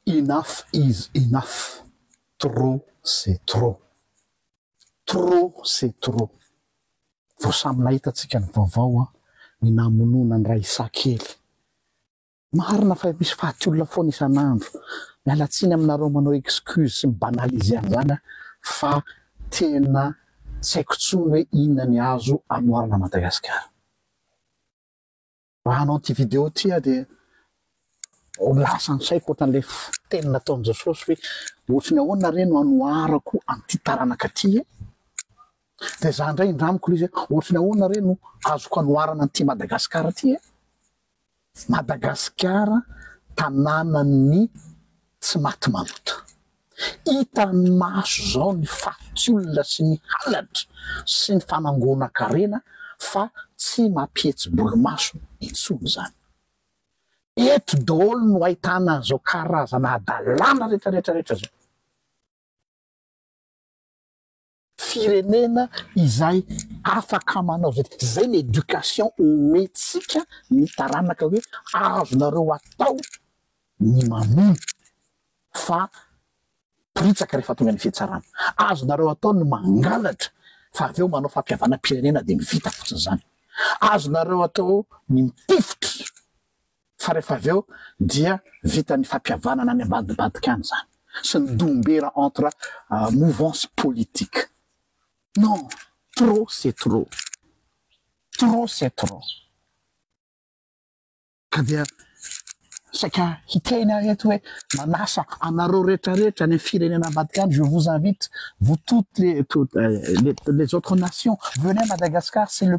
Enough is enough, trop c'est trop. Trop c'est trop. Vao samy nahita tsika ny vaovao an, ny namonoana ny raisakely. Marina fa misy faty olona foana isan'andro, miala tsiny aminareo manao excuse sy mi banaliser an'izany an, fa tena tsy haiko tsony hoe inona ny azo anoarana Madagasikara. Raha hanao ity video ity aho dia ho lasa ny saiko ohatran'ilay teny nataon'i Jesosy hoe ohatry ny ahoana re no hanoharako an'ity taranaka ity e? Dia za indray indramiko ilay izy hoe ohatry ny ahoana re no azoko hanoharana an'ity Madagasikara ity e? Madagasikara tanànan'ny tsy maty malota. Hitan'ny maso izao ny fatin-tsolona sy ny halatra sy ny fanangonan-karena fa tsy mampihetsi-bolomaso intsony izany. Eto daholo no ahitana an'izao karazana hadalana rehetra rehetra rehetra izao. Firenena izay afaka manao izay tiany. Izay ny éducation omentsika ny taranaka hoe azonareo atao ny mamono fa poritsaka rehefa tonga ny fihetsarana. Azonareo atao ny mangalatra fa avy eo manao fampihavanam-pirenena dia vita fotsiny izany. Azonareo atao ny mitifitra fa rehefa avy eo dia vita ny fampihavanana any ambadibadika any izany sy ny dombera entre mouvances politiques. Non, trop c'est trop. Trop c'est trop. Ka dia saika hiteny aho eto hoe manasa anareo rehetra rehetra any amin'ny firenena ambadika any, je vous invite vous toutes les les autres nations, venez à Madagascar, c'est le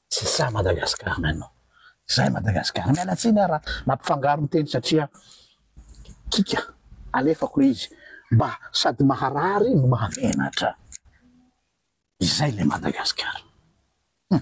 Tsy sahy Madagascar ny anao. Tsy sahy Madagascar. Miala tsiny ara mampifangaro ny teny satria kika alefako le izy mba sady maharary no mahamenatra. Izay le Madagascar. Hum.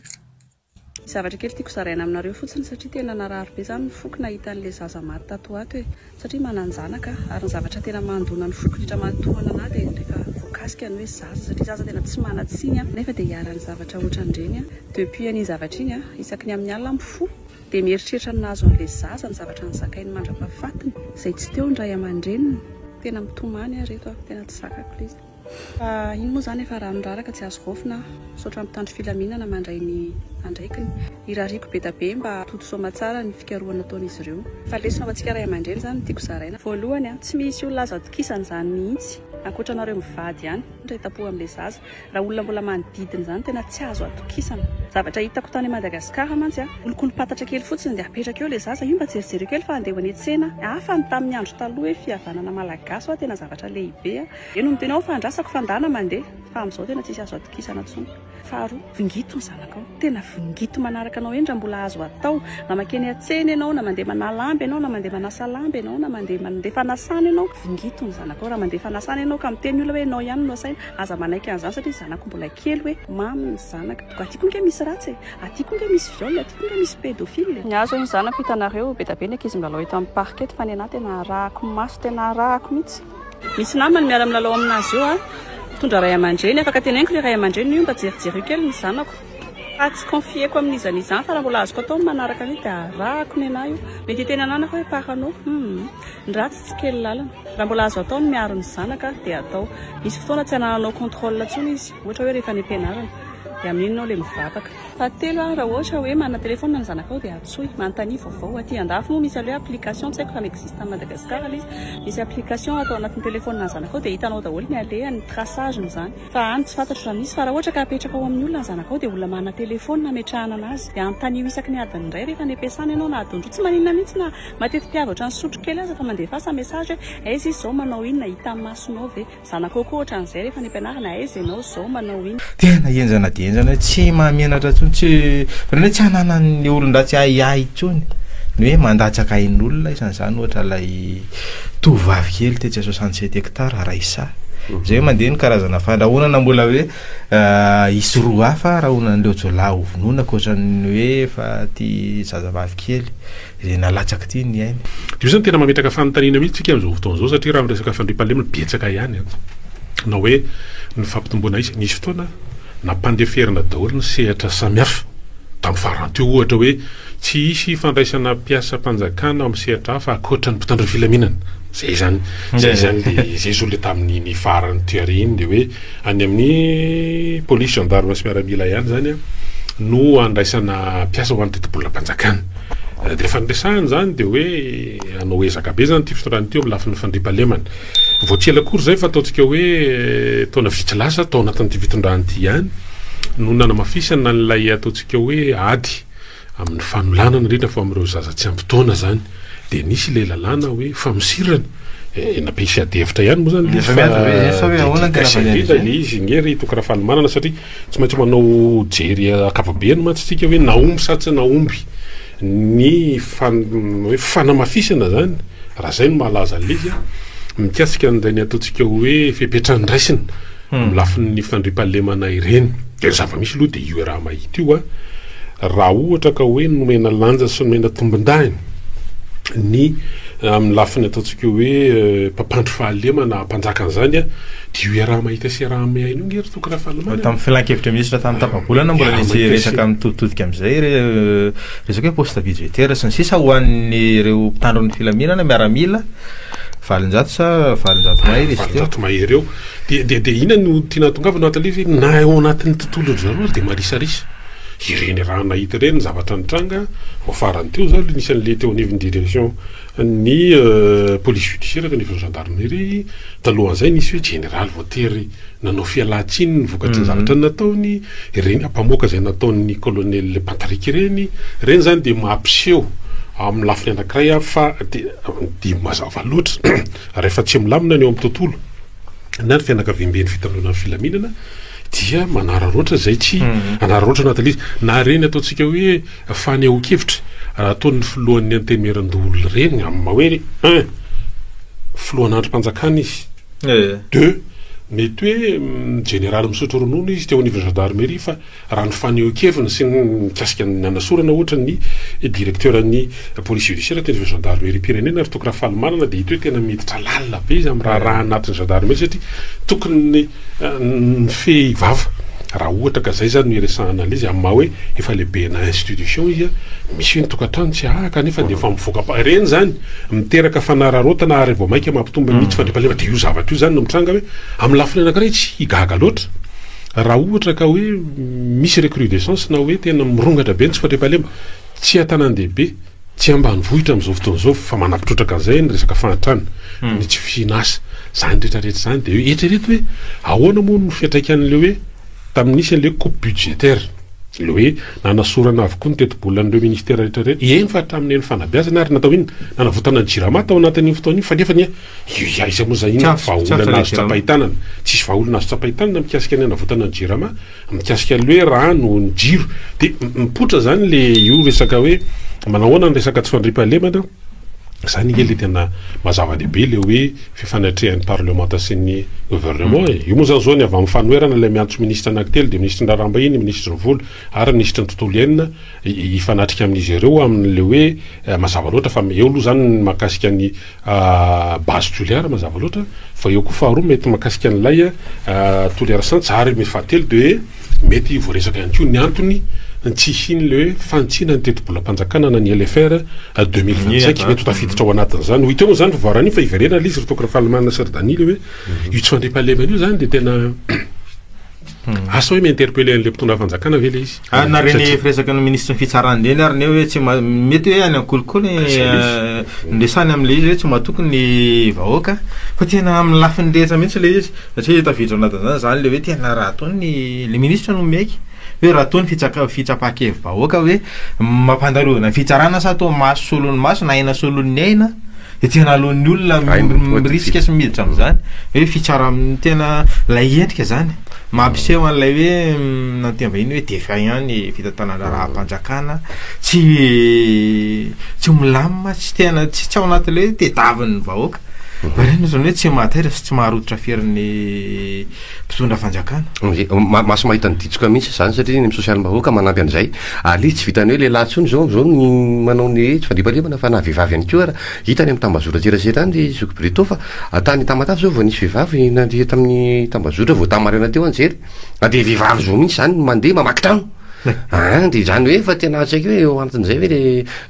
Misy zavatra kely tiako zaraina aminareo fotsiny satria tena narary be za ny foko nahita an'le zaza maty tato ho ato e! Satria manan-janaka ary ny zavatra tena mandona ny foko indrindra matohana anah dia rehefa voakasika ny hoe zaza satria zaza tena tsy manan-tsiny an! nefa dia iharan'ny zavatra ohatran'ireny an! depuis an'iny zavatra iny an! isaky ny amin'ny alina mifoha dia mieritreritra ny nahazo an'ilay zaza, ny zavatra nozakainy mandra-pahafatiny izay tsy teo ny ray aman-dreniny, tena mitomany aho ireto an! tena tsy zakako ilay izy. Fa ino moa zany efa raha miraraka tsy azo raofina aho. Misaotra mpitandro filaminana mandray ny andraikiny. Irariako bedabe mba toto soamatsara ny fikarohana ataon'izy ireo. Fa lesona ho antsika ray aman-dreny zany no tiako zaraina. Voalohany a, tsy misy olona azo atokisana izany mihitsy, ankoatra anareo mivady ihany, ndray tampoha amin'ilay zaza. Raha olona mbola manodidina izany tena tsy azo atokisana. Zavatra hitako tany Madagascar mantsy a, olokolompatatra kely fotsiny dia apetraka eo ilay zaza, io mba jerijereo kely fa andeha ho any an-tsena, hafa ny tamin'ny andro taloha hoe fihavanana malagasy hoa tena zavatra lehibe a. Eny no tena ao fa andrasako fa ndana mandeha fa amin'izao tena tsisy azo atokisana tsony. Faharoa, vingito ny zanakao. Tena vingito manaraka anao eny raha mbola azo atao. Na makeny an-tsena ianao, na mandeha manà lamba ianao, na mandeha manasa lamba ianao, na mandeha mandeha fanasana ianao, vingito ny zanakao. Raha mandeha fanasana ianao ka miteny olona hoe ianao ihany no asaina, aza manaiky an'izany satria ny zanako mbola kely hoe mamy ny zanaka. Toga aty koa nge misy ratsy e! Aty koa nge misy viol e! Aty koa nge misy pédophile e! Ny ahy zao iny zanako hitanareo, be da be ny ankizy milalao eto amin'ny parc eto fa ny anah tena arahako maso, tena arahako mihitsy. Misy namany miara milalao aminazy io an! Mitondra ray aman-dreny, afaka teneniko ry ray aman-dreny io mba jerijereo kely ny zanako fa tsy confier-ko amin'izany izany fa raha mbola azoko atao ny manaraka an'io dia arahako ny anah io, mety hiteny ananako hoe parano hum! ny ratsy tsy kely lalina, raha mbola azo atao ny miaro ny zanaka dia atao, misy fotoana tsy anananao controle intsony izy ohatra hoe rehefa any am-pianarana dia amin'iny enao ilay mivavaka. Fahatelo aho raha ohatra hoe manana téléphone ny zanakao dia antsoy, manontania vaovao, aty andafy moa misy aloe application tsy haiko raha mi-existe any Madagascar aloha izy, misy application atao anatin'ny téléphone nà zanakao dia hitanao daholo ny alehany, ny traçage ny zany, fa any tsy fantatro raha misy, fa raha ohatra ka apetraka ao amin'ny olona ny zanakao dia olona manana téléphone ametrahana anazy, dia anontanio isaky ny adiny iray rehefa any ampiasana ianao na adiny roa, tsy maninona mihitsy na mateti-piavy ohatran'ny sotro kely aza fa mandefasa message hoe aiza izy izao manao inona, hitan'ny masonao ve? Zanaka kokoa ohatran'izay rehefa any am-pianarana, aiza ianao izao, manao inn. Tena henjana dia henjana hoe tsy mahamenatra intsony, tsy ohatran'ny hoe tsy ananan'ny olon-dratsy ahiahy intsony ny hoe mandatsaka ain'olona, isan'izany ohatra ilay tovovavy kely tetsy à soixante sept hectares Raissa, izay hoe mandeha ny karazana fandrahonana mbola hoe hisy roa hafa rahonan'ireo jiolahy hovonoina ankoatran'ny hoe efa ity zazavavy kely. izay nalatsaka ity ny ainy. Dia io izany tena mametraka fanontaniana mihitsy tsika amin'izao fotoana izao satria raha miresaka fandriampahalemana betsaka ihany an. Na hoe ny fampitomboana aiza. Nisy fotoana nampandeferina daholo ny sehatra samihafa tamin'ny farany teo ohatra hoe tsy hisy fandraisana mpiasam-panjakana amin'ny sehatra hafa ankoatra ny mpitandro ny filaminana. Izay izany. Izay izany ilay izay zao ilay tamin'iny farany tery iny dia hoe. Any amin'ny polisy, gendarme sy miaramila ihany izany no andraisana mpiasa ho an'ny tetibolam-panjakana. Dia efa niresahana izany dia hoe hanao ezaka be izany ity fitondrana ity eo amin'ny lafiny fandriampahalemana. Vao tsy ela akory izay fa ataontsika hoe taona vitsy lasa tao anatin'ity fitondrana ity ihany no nanamafisana an'ilay ataontsika hoe ady Amin'ny fanolanana indrindra fa amin'ireo zaza tsy ampy taona izany dia nisy ilay lalàna hoe famosirana eh, nampisy adihevitra ihany moa izany Efa miady be, efa hoe ahoana ny tena valiny indrindra izay? ny izy nge ry Toky Rafalimanana satria tsy maintsy manao jery ankapobeny mantsy tsika hoe nahomby sa tsy nahomby ny fan- hoe fanamafisana izany raha izay no mahalaza an'ilay izy an, mikasika an'izay ny ataontsika hoe fepetra andraisina Amin'ny lafin'ny fandriampahalemana ireny dia zava-misy aloha dia io Rama ity io a! raha ohatra ka hoe nomena lanja sy nomena tombondahiny ny amin'ny lafiny ataontsika hoe mpampandry fahalemana hampanjaka an'izany a! dia io Rama ity sy Rama iny io nge ry Toky Rafalimanana. Tamin'ny filankevitra minisitra tamin'ny tapa-bolana mbola nisy resaka mitoditodika amin'izay resaka hoe poste budgétaire sy ny sisa ho an'ireo mpitandro ny filaminana, miaramila, valonjato sa valonjato mahery izy teo. Valonjato mahery eo. Dia dia dia inona no tiana hatongavana ato aleha ve? Na ao anatin'ny tontolon-dry zareo aza dia marisarisa. Ireny raha nahita ireny ny zavatra nitranga vao farany teo zao le nisy an'le teo anivon'ny direction ny police judiciaire teo anivon'ny gendarmerie, talohan'izay nisy hoe jeneraly voatery nanao fialantsiny ny vokatry ny zavatra nataony, ireny mpamoaka izay nataon'ny colonel Pantarika ireny, ireny zany dia mampiseho amin'ny lafiny anankiray fa dia dia mazava loatra rehefa tsy milamina ny ao amin'ny tontolo. na ny fianakaviamben'ny fitandroana filaminana dia manararaotra izay tsy mhm. anararaotra anaty lizy na reny ataontsika hoe fanehoan-kevitra raha ataon'ny filohan'ny antemeran-doholona reny amin'ny maha hoe un filohan'andrim-panjakana izy eh. deux mety hoe mm, generaly misotro ronono izy teo anivon'ny gendarmerie fa Raha ny fanehoan-keviny sy ny mikasika ny nanasorana ohatra ny direkteuran'ny police judiciaire teo anivon'ny gendarmeriam-pirenena ry Toky Rafalimanana dia hita hoe tena miditra lalina be izy amin'ny raharaha anatin'ny gendarmerie satria tokony mifehy vava raha ohatra ka izay izany no iresahan'la izy amin'ny maha hoe efa lehibena institution izy misy hoe ny tokantrano tsy hahaka kanefa dia efa mivoaka am-pa ireny izany miteraka fanararaotana ary vao mainka mampitombo mihitsy fandriampahalemana dia io zavatra io izany no mitranga hoe amin'ny lafiny anankiray tsy gaga loatra Raha ohatra ka hoe misy recrudescence na hoe tena mirongatra be ny tsy fandriampahalemana, tsy an-tanàn-dehibe, tsy ambanivohitra amin'izao fotoana izao, fa manapitrotraka an'izay ny resaka fahantrana, ny tsy fihin'asa, izany rehetrarehetra izany, dia hoe eritrereto hoe ahoana moa no fiantraikan'ilay hoe tamin'ny nisy an'ilay hoe coupe budgétaire, ilay hoe nanasorana avokoa ny tetibolan'ireo ministera rehetrarehetra, eny fa hatramin'ny eny fanabeazana ary natao inona, nanavotana ny Jirama tao anatin'iny fotoana iny, fa nefa anie Io iza iza moa izany inona ny vahaolana azo tsapain-tanana? Tsisy vahaolana azo tsapain-tanana mikasika ny hanavotana ny jirama, mikasika ny hoe rano, ny jiro. Dia mipoitra izany le io resaka hoe manao ahoana ny resaka tsy fandriampahalemana, izany ange le tena maha-zava-dehibe le hoe fifanatrehan'ny parlemanta sy ny governemant e. Io moa izany zao ny avy amin'ny fanoherana ilay miantso minisitra anankitelo dia minisitry ny raharaham-bahiny, minisitry ny vola ary minisitry ny tontolo iainana hifanatrika amin'izy ireo amin'ny le hoe mazava loatra fa eo aloha izany ny mahakasika ny A base Toliara mazava loatra fa eo koa faharoa mety mahakasika an'ilay Toliara Saints ary mety fahatelo dia hoe mety voaresaka ihany koa ny antony tsy hisian'ilay hoe fanitsiana ny tetibolam-panjakana na ny LFR deux mille vingt cinq mety ho tafiditra ao anatin'izany ho hita eo moa izany vaovao anio fa hiverena ilay izy ry Toky Rafalimanana sy ry Daniel hoe io tsy fandriampahalemana io izany dia tena Asa hoe mi-interpeller an'ilay mpitondra fanjakana ve ilay izy? Ah, nareo ny firesaka ny ministry ny fitsarana indreny ary ny hoe tsy mety hoe any amin'ny kolikoly ah, eh, ndresany amin'ilay izy hoe tsy matoky ny vahoaka fa tena amin'ny lafiny rehetra mihitsy ilay izy satria taviditra anatin'izany izany ilay hoe tena raha toa ny le ministra no miaiky hoe raha toa ny fitsaka fitsapan-kevy vahoaka hoe mampandarovana ny fitsarana sa toa maso solon'ny maso na aina solon'ny aina Ety analoan'ny olona mirisika sy miditra amin'izany hoe fitsara amin'ny tena ilay endrika izany mampiseho an'ilay hoe nantia vahiny hoe defa ihany fitantanana raha-panjakana tsy tsy milamina tsy tena tsy tsy ao anatin'ilay hoe tediavin'ny vahoaka. Ireny ohatrany hoe tsy mahataitra sy tsy maharototra ferin'ny mpitondra fanjakana. Maso mahita ny ditsoka mihintsy izany satria ny social bahoaka manampy an'izay ary izy tsy vitan'ny hoe lehilahy intsony izao izao ny manao ny hoe tsy fandriampahalemana fa na vehivavy ihany koa ary hita any amin'ny tambazotra an-tserasera any ry zoky Britto fa tany Tamatave izao vao nisy vehivavy nandeha tamin'ny tambazotra vao tamin'ny maraina teo aho nijery na dia vehivavy zao mihintsy izany mandeha mamaky trano Aa dia izany hoe efa tena tsy haiko hoe eo antin'izay ve le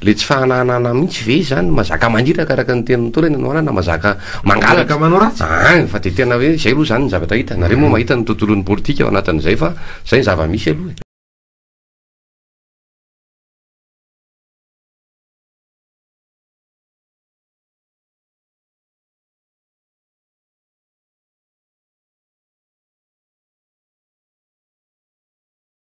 le tsy fahananana mihitsy ve izany no mazaka maniraka araka ny tenin'ny Ntaolo ianao anana mazaka mangalatra manao ratsy aa fa dia tena hoe izay aloha izany ny zavatra hita nareo moa mahita ny tontolon'ny politika ao anatin'izay fa izay ny zava-misy aloha e.